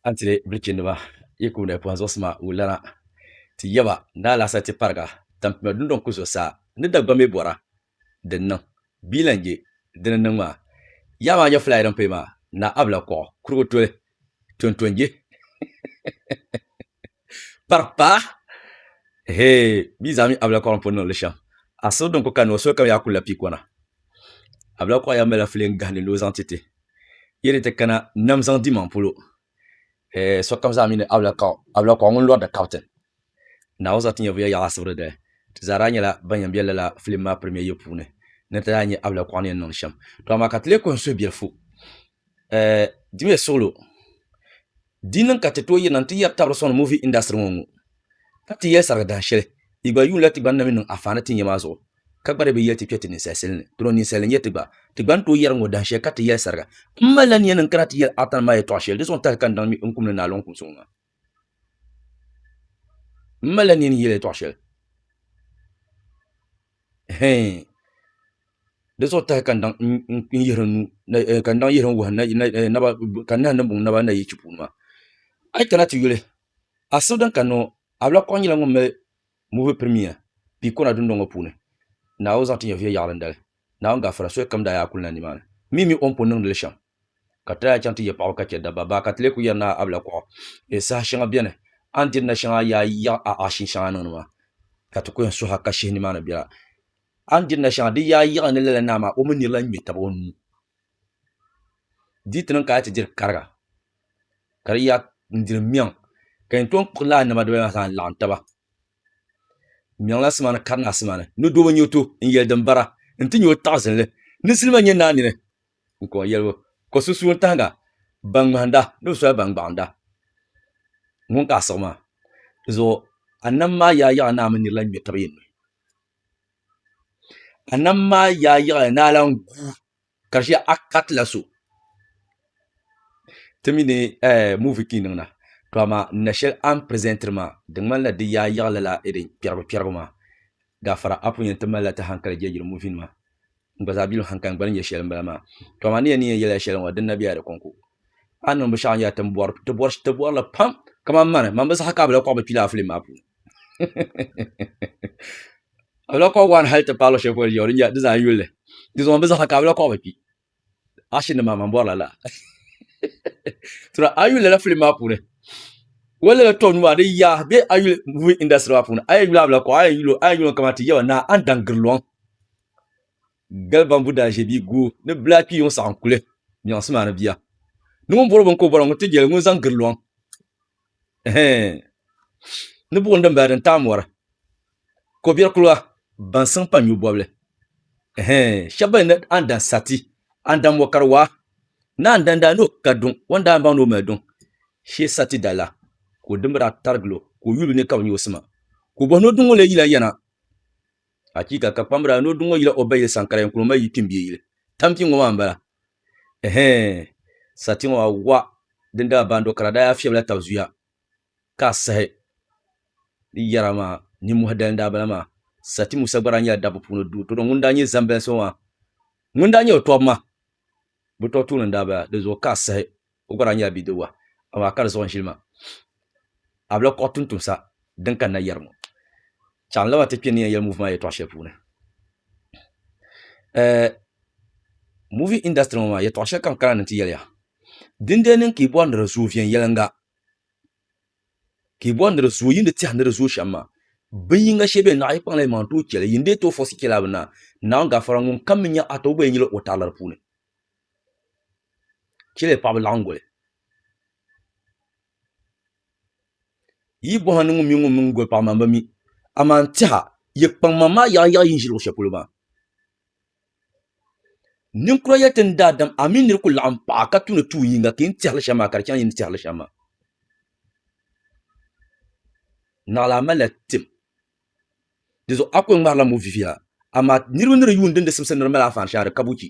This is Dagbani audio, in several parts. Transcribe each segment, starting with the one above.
an tili bilichiniba yi ku na pɔhim zuɣusima wulana ti yaba ni alaasa ti pariga tampima dundɔŋ ku zuɣusaa ni Dagbaŋ mi bɔra din niŋ bia lan je dini niŋ maa yaɣa maa nyɛ fulaya din pay maa na abla kɔɣu kurigu toli tontonje pari paa hee bia zaa mi abla kɔɣu n pun niŋ li shɛm asiri din ku kanni o soli kam yaa ku la pii kɔna abla kɔɣu yaa mali la filen gahindi ni o zaŋ ti ti Yi ni ti kana nam zaŋ dimaŋ polo, eh, sokam zaa mi ni Ablakɔɣu, Ablakɔɣu ŋun lɔri di kaptin. Naawuni zaŋ ti nyɛvuya yaɣi asibiri dali. Ti zaa daa nyɛla ban yɛn be lala filim maa pirimiya yili puuni ni ti daa nya Ablakɔɣu ni yɛn niŋdi shɛm. Tɔ amaa ka ti leei kɔhim suhubiɛlifu, eh, dimiya suɣilo. Di niŋ ka ti tooi yirina nti yɛri tabiri sɔŋni movie industry ŋɔ ŋ-ŋɔ ka ti yɛli sarigi dahin shɛli yi gba yuunila ti gba ni na mi niŋ afaani ti ni yɛ maa zuɣu ka gba di bi yɛli ti kpe ti ninsali sili ni dɔro ninsali n-yɛ ti gba ti gba ni tooi yɛri ŋ-ŋɔ dahin shɛli ka ti yɛli sariga m malila nia ni n-kana ti yɛli Artan maa yɛtɔɣa shɛli di zuɣu n-tahili ka n daŋ mi n kum ni Naalɔŋ kumsi ŋɔ maa m malila nia ni n yɛli yɛtɔɣa shɛli. hɛɛn di zuɣu tahi ka n daŋ yihiri wuhi naba ka n nahi niŋ buŋ naba ni na yi chi puuni maa a yi kana ti yuli asibi din kanna ŋɔ Ablakɔɣu nyɛla ŋun mali muvi pirimiya piikona dundɔŋ ŋɔ puuni Naawuni zaŋ ti nyɛviya yaɣili n dali Naawuni gaafara solikam daa yaa kuli na nimaani mii mini o ni pun niŋdili shɛm ka ti lahi chaŋ ti yɛ paɣaba ka chɛ dabba baa ka ti lee kuli yɛri ni a abila kuɣu bee saha shɛŋa bɛni a ni diri na shɛŋa yaa yiɣi a aashin shɛŋa niŋdi maa ka ti kuli yɛn suhi a ka shihi nimaani biɛla a ni diri na shɛŋa di yaa yiɣi ni lala naa maa o mi niri lahi ŋmɛ tab o nuu di ti niŋ ka a yɛn ti diri kariga ka di yaa n diri miɛŋ ka yɛn tom kpuɣi laa nɛma dibaayi maa zaa n laɣam taba n niŋla sima ni kari naa sima ni ni doo bi nyɛ o to n yɛli din bara n ti nyɛ o taɣazinli ni zilima nyɛ naa nini n kɔŋ yɛlibu, ka o sunsuuni tahiga ban ŋmahinda ni bɛ soli ban gbaɣinda ŋun ka a siɣi maa. Di zuɣu a nam maa yaayaɣi naa mini nir lan ŋme tab yen nuhi. A nam maa yaayaɣi ni a lan gu ka di shee a ka ti la so ti mi ni ɛɛh movie ka yi niŋda tɔ amaa n na shɛli a ni presentiri maa di ŋmanila di yaayaɣi lala irin kpɛribu kpɛribu maa. Gaafara a pun yɛn ti malila ti hankali jɛlgiri movie nima N gba zaa bi luɣ haŋkali, n gba ni yɛ shɛli m-bala maa. Tɔ amaa ni ya ni yɛn yɛla shɛli ŋɔ, din na be ya di kɔŋko. A ni niŋ binshɛɣu n-yɛli ti ni ti bɔri li pam, kamani mani, mani bi saha ka a bi lahi kɔɣi bi kpilaa filim maa puuni. A bi lahi kɔɣi waan hali ti paai luɣ shɛli polo di yɛn di zaa yuli li. Dinzuɣu mani bi saha ka a bi lahi kɔɣi bi kpi. Action nim maa mani bɔri la lala. Tɔ a yi yuli lala filim maa puuni, wali lala tɔbu nuu maa di yaa be a yuli movie industry maa puuni, a yɛn yuli a bi lahi kɔɣi, a yɛn yuli o kamani ti yaba Naa Andaŋ Giriloŋ. gali bambu daa ʒe bia guui ni bla kpi yuŋ saɣim kuli nyaŋsi maa ni bia ni ŋun bɔri bini ka o bɔra ŋun ti jeli ŋun zaŋ giri lɔŋ ɛhɛɛn ni buɣim din bala din taai mɔri ko biɛri kuliga ban siŋ pa nyu bɔbili ɛhɛɛn shɛba ban yɛn na a ni dan sa ti a ni dan mɔ ka di waa ni a ni dan daa ni o ka duŋ o ni daa baŋ ni o mali duŋ shee o sa ti dali la ka o dimba daa tarigila o ka o yulibu ni ka bi nya o sima ka o bɔhi ni o duŋ ŋɔ lee yila yana Achiika! Ka kpambira ni o duŋ o yila o ba yili saŋ ka lahi kuni o ma yi kpimbiɛ yili. Tampi ŋɔ maa m-bala. Ɛhɛɛn! Sati ŋɔ maa wa din daa baani do ka di daa yaa fiɛbila tab zuya ka a sahi di yɛra maa nimmɔhi dali n-daa bala maa. Sati Musa gba daa nyɛla dabba puuni doo tɔtɔ ŋun daa nyɛ Zambɛnsi ŋɔ maa ŋun daa nyɛ o tɔb ma. Bɛ tɔb tuuli n-daa bala di zuɣu ka a sahi. O gba daa nyɛla bidibiga, amaa ka di zuɣu n-ʒili ma. A bi lahi kɔɣi tuntumsa din kanna yɛri ŋɔ. Chɛɣu n laba ti kpe ni yɛn yɛli muuvi maa yɛtɔɣ shɛli puuni. Ɛɛ, muuvi indasitiri ŋɔ maa, yɛtɔɣ shɛli ka n kana ni n ti yɛli ya. Dindee niŋ ka yi bɔri ni di zooi viɛnyɛliŋga, ka yi bɔri ni di zooi yi ni tɛha ni di zooi shɛm maa, bin yiŋga shee beni, naɣ yi kpaŋla yi maŋ tooi chɛ li. Yi ni deei tooi fɔɣisi chɛ li a bi naai. Naawuni gafara ŋunkam mi nya a ti o gba yi nyili o tarila di puuni. chɛliya paɣaba laɣim guli yi yi bohim ni ŋun mini goli paɣa maa n ba mi amaa n tɛha yi kpaŋ maŋ maa yaɣa yaɣa yi ni ʒi luɣi shɛli polo maa ninkura yɛli ti ni daadam a mii niri ku laɣim paɣa ka tu ni tuun yinga ka yi ni tɛhiri shɛm maa ka di chɛŋ yi ni tɛhiri shɛm maa naɣila a malila tim Di zuɣu a kul ŋmarila mo viviya, amaa niriba ni di yuun dindi simsi ni di mali afaani shɛŋa di ka buchi,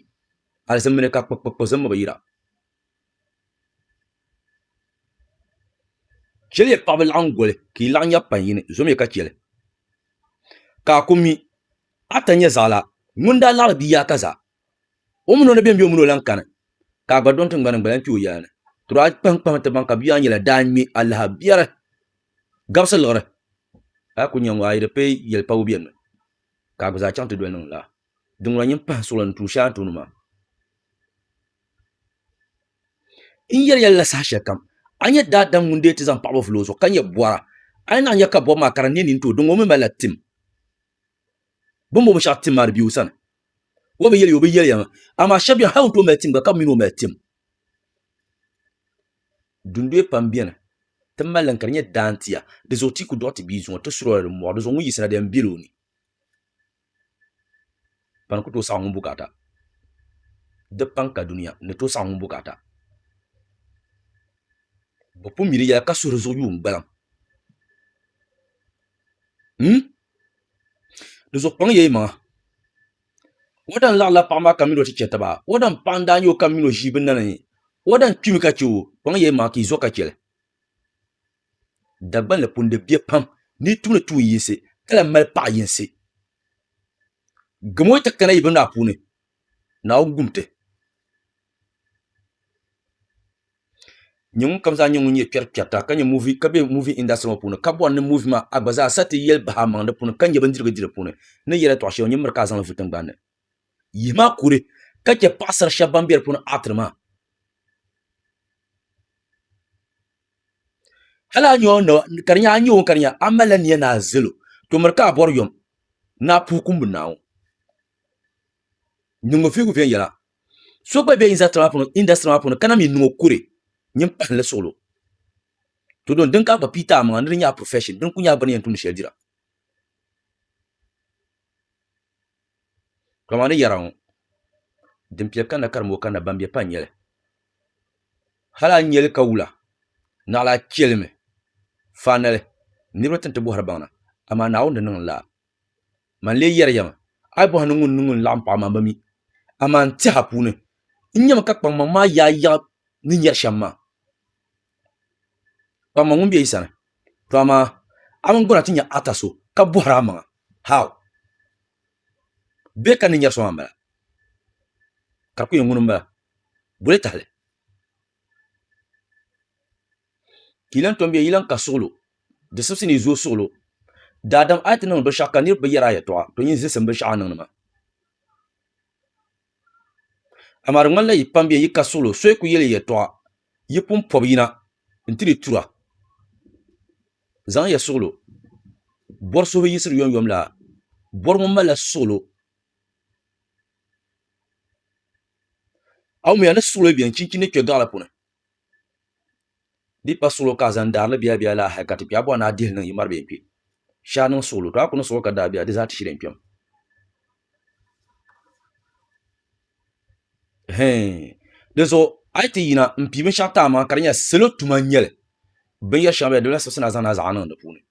hali zimmi ni ka kpikpikpi zimmi bi yira. Chɛliya paɣiba laɣim goli ka yi laɣ nya pain yini, zomiya ka chɛ li. Ka a ku mi, a ta nya zaɣila, ŋun daa laɣiri bia yaakaza, O mini o ni bɛn bɛ o mini o lan kani, ka a gba dɔŋ tiŋgbani n-gba lan kpe o yaa ni. Tɔra a kpahiŋkpahimi ti baŋ ka bia a ni yɛla daa ŋme a lahi biɛri gabisi liɣiri. A ku nya ŋɔ, a yi di pee yɛli pa o biɛri ni, ka a gba zaa chaŋ ti doli niŋ laa. Di ŋuna nyin pahi suɣili ni tuui shɛli a ni tooni maa. N yɛli ya lala saha shɛlikam, a nya daadam ŋun deei ti zaŋ paɣibu vili o zuɣu, ka nya bɔra. A yi naanyi ya ka bɔbu maa ka di neei nini tooi, di ŋɔ o mi malila tim. Bɛ ni bo binshɛɣu tim maa di be o sani. O bi yɛli ya o bi yɛli ya maa, amaa shɛba beni hal o ni tooi mali tim gba ka bɛ mi ni o mali tim. Dundoya pam beni ti mali li ka di nyɛ daantia, di zuɣu ti yi ku dɔɣi ti bia zuŋɔ ti suri o la di mɔɣu, di zuɣu ŋun yiɣisira di yɛn bela o ni ka ni ku tooi saɣi ŋun bukaata. Di paŋ ka dunia ni tooi saɣi ŋun bukaata. Bɛ pun mi di yɛla ka suhi di zuɣu yuun gbaliŋ. Di zuɣu kpaŋ ya imaŋa. O daa laɣila paɣa maa ka mini o ti chɛ taba. O daa paɣa n-daa nya o ka mini o ʒii bi nani. O daa kpimi ka chɛ o, Kpaŋ ya imaŋa ka yi zo ka chɛ li. Dagbaŋ ni pun di bɛ pam ni yi tumdi tuun yinsi ka lahi mali paɣ yinsi. Gamo yi ti kana yi binnaa puuni, Naawuni gum ti. Nyɛŋun kam zaa nyɛ ŋun nyɛ kpɛrikpɛrita ka be muuvi indasitiri ŋɔ puuni ka bɔri ni muuvi maa a gba zaa sa ti yɛli bahi a maŋa di puuni ka nyɛ bindirigu di di puuni n ni yɛli tɔɣu shɛli ŋɔ nyɛ miri ka a zaŋli vu tiŋgbani ni yihi maa kuli ka chɛ paɣasara shɛba ban be di puuni aatiri maa hali a nya o naba ka di nya a nya o ka di nya a malila nia ni a zali o to miri ka a bɔri yom ni a puhi kumbu Naawuni nyingofirigu viɛnyɛla so gba bɛ industry maa puuni industry maa puuni kana mi niŋ o kuri nyin pahinli suɣulo to don din ka gba piita amaŋa ni di nyɛ a profession din ku nyɛ a bini yɛn tumdi shɛli dira to maa ni yɛra ŋɔ din piɛli kanna karimbo kanna ban bɛ pa n nyɛli hali a ni nyɛli ka wula naɣila a chɛlimi finally niriba tin ti bɔhiri baŋ na amaa Naawuni ni niŋ n laa Man lee yɛriya mi, a yi bɔhi ni ŋuni ni ŋuni laɣim paɣi ma, bɛ mi, amaa n tiɛhi a puuni. N nyami ka kpaŋmaŋ maa yaai yaɣi ni nyɛri shɛm maa. Kpaŋmaŋ ŋun be yi sani, to amaa a mini gɔna ti nya ata so ka bɔhiri a maŋa, How? Bɛ ka ni nyɛri so maa m-bala? Ka di ku yɛn ŋuni m-bala? Boli tahili. Ka yi lan tom ya, yi lan ka suɣilo, di sibisi ni yi zooi suɣilo. Daadam a yi ti niŋdi binshɛɣu ka niriba bi yɛri a yɛtɔɣa, to yin zisim binshɛɣu a niŋdi maa. Amaa di ŋmanila yi pam ya, yi ka suɣilo, so yi ku yɛli ya yɛtɔɣa, yi pun pɔbi yina nti di tura. Zaŋmiya suɣilo bɔri suhili yiɣisiri yomyom la, bɔri ŋɔ malila suɣilo. A wumiya ni suɣilo beni chinchini ni kpe gaɣili puuni? Di pa suɣulo ka a zaŋ daari ni biɛla biɛla la hali ka ti kpɛɣu bɔri ni a dihi li niŋ yi mari bee kpɛ. Shɛ a niŋ suɣulo, tɔ a ku ni suɣuri ka daabia, di zaa ti shiri n kpɛm. Hɛɛn! Dinzuɣu a yi ti yina m-pi binshɛɣu ti a maŋa ka di nyɛla salo tuma n-nyɛ li, binyɛr shɛŋa bela di bi lahi siɣisi ni a zaŋ ni a zaɣa niŋ di puuni.